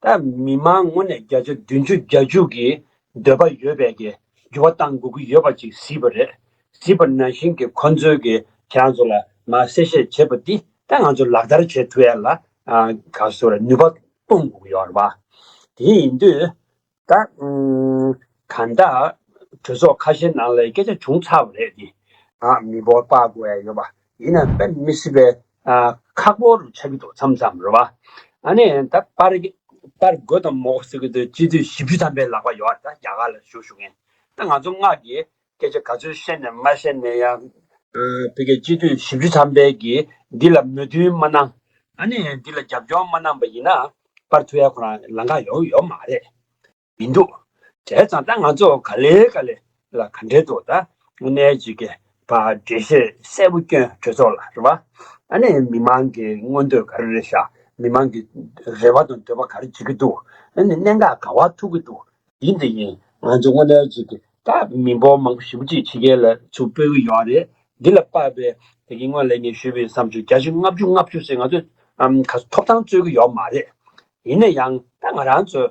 ད་མི་མང་ངོ་ནས་བརྒྱ་ཆ་བདུན་ཅུ་བརྒྱ་བཅུ་གི་འདོད་པ་ཡོད་པས་ཀྱི་འགྱུར་བ་བཏང་དགོས་ཀྱི་ཡོད་པ་ཅིག་གཟིགས་པ་རེད། གཟིགས་པ་ནང་བཞིན་གྱི་ཁོང་ཚོས་ཀྱི་དེའང་ཚོ་ལ་མ་གསལ་བཤད་བྱེད་པ་འདི་ད་ང་ཚོ་ལག་བསྟར་བྱེད་ཐུ་ཡལ་ལ་ག་ཚོ་ལ་ནུས་པ་གཏོང་དགོས་ཀྱི་ཡོད་རེད་བ། དེ་ཡིན་དུས་ད་གང་ལྟ་གྲོས་ཚོགས་ཁ་ཤས་ནང་ལ་སྐད་ཆ་བྱུང་ཚར་བ་རེད་དེ་མི་འབོར་དཔག་དགོས་ཡ་ཡོད་པ་ཡིན་ན་དཔེ་མི་སྲིད་པས་ཁག་པོ་རུ་ཆགས་ཀྱི་འདུག་མཚམས་མཚམས་རེ་བ། ཨ་ནི་ད་པར་རྒོད་དང་མོག་ཟེར་གྱི་འདུག་སྤྱི་འཐུས་བཞི་བཅུ་ཐམ་པའི་ལག་པ་ཡོད་ད་རྒྱ་གར་ལ་བཞུགས་བཞུགས་མཁན་ད་ང་ཚོ་སྔགས་ཀྱི་སྐད་ཆ་ག་ཚོད་བཤད་ནས་མ་བཤད་ནས་ཡང། བོད་རྒྱ་སྤྱི་འཐུས་བཞི་བཅུ་ཐམ་པས་ཀྱིས་འདི་ལ་མོས་མཐུན་མ་གནང། ཨ་ནི་འདི་ལ་རྒྱབ་སྐྱོར་མ་གནང་པ་ཡིན་ན་པར་ཐུ་ཡ་ཁོ་རང་ལང་ཁ་ཡོད་ཡོད་མ་རེད། མི་འདུག་བྲེལ་ཙང་ད་ང་ཚོ་ག་ལེ་ག་ལེ་ལ་ག་འབྲེལ་འདུག་ད་ནས་ཅིག་གི་བ་འབྲེལ་བཤད་གསལ་པོ་སྐྱོན་གྲོས་ཚོགས་ལ་རེ་བ་ཨ་ནས་མི་མང་གི་མངོན་འདོད་ག་རེ་རེ་བཞག་མི་མང་གི་རེ་བ་དང་འདོད་པ་ག་རེ་བྱེད་ཀྱི་འདུག་ཨ་ནས་གནད་འགག་ག་བ་ཐུག་གི་འདུག་ཡིན་དེ་ཡིན་ང་ཚོ་དངོས་གནས་ཅིག་གི་ད་མི་འབོར་མང་པོ་ཞིབ་པོ་ཅིག་ཕྱི་རྒྱལ་ལ་ཚུར་སྤོས་ཀྱི་ཡོད་རེད་འདི་ལ་དཔག་པའི་དེ་གི་སྔོན་ལས་ངས་ཞུས་པའི་བསམ་ཚུལ་བརྒྱ་ཆའི་ལྔ་བཅུ་ལྔ་བཅུ་ཟེར་ང་ཚོས་ག་ཐོབ་ཐང་རྩོད་ཀྱི་ཡོད་མ་རེད་ཡིན་ན་ཡང་ད་ང་རང་ཚོས་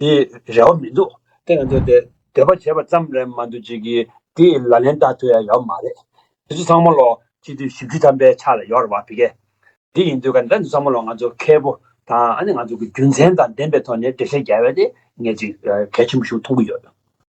དེ་རེ་བ་མི་འདུག་དེ་ང་ཚོས་དེ་འདོད་པ་བྱས་པ་ཙམ་རེད་མ་འདུག་ཅིག་གིས་དེ་ལ་ལན་བཏགས་ཐུབ་ཡ་ཡོད་མ་རེད། དེ་ཚོ་ཚང་མ་ལོ་གཅིག་དུས་བཞི་བཅུ་ཐམ་པའི་ཆ་ལ་ཡོད་རེད་བ་བི་གེ། དེ་ཡིན་དུས་ག་འདྲ་འདི་ཚང་མ་ལོ་ང་ཚོ་མཁས་པོ་དང་ཨ་ནི་ང་ཚོ་གི་རྒྱུ་མཚན་དང་ལྡན་པའི་ཐོག་ནས་འགྲེལ་བཤད་རྒྱལ་བས་དེ་ངས་ཅིག་གལ་ཆེན་པོ་ཞིག་མཐོང་གི་ཡོད།